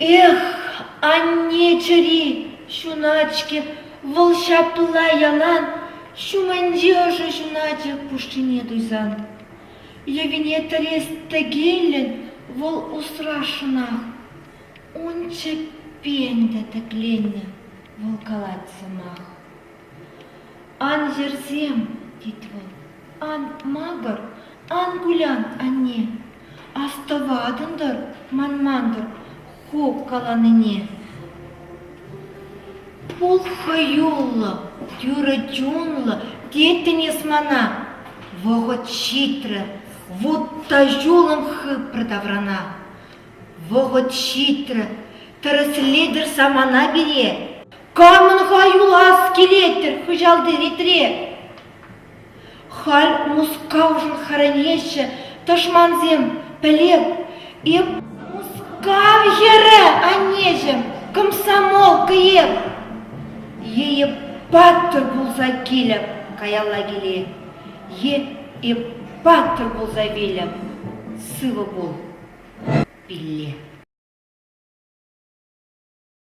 Эх, анне чӗри ҫунать-ҫке, вӑл ҫапла ялан ҫумӗнче ӑшӑ ҫунатӗ пушшине туйсан. Йӑвине тӗрес тӗкеллӗн вӑл усрасшӑнах. Ун чӗппен те тӗкленнӗ вӑл калать сӑмах. Ан йӗрсем, тет вӑл, ан макӑр, ан кулян, анне. Астӑватӑн-тӑр, манман-тӑр ху каланине. Пул хӑюллӑ, тӳрӗ чунлӑ теттӗн эс мана. Вӑхӑт ҫитрӗ, вутта ҫулӑм хыпрӗ таврана. Вӑхӑт ҫитрӗ, тӗрӗслетӗр самана пире. Камӑн-ха юлас килет-тӗр хыҫалти ретре? Халь Мускавшӑн хӗрӗнеҫҫӗ тӑшмансем, пӗлеп. Эп Мускав хӗрӗ, аннеҫӗм, комсомолка эп. Е эп паттӑр пулса килӗп каялла киле, е эп паттӑр пулса вилӗп, сывӑ пул, пилле.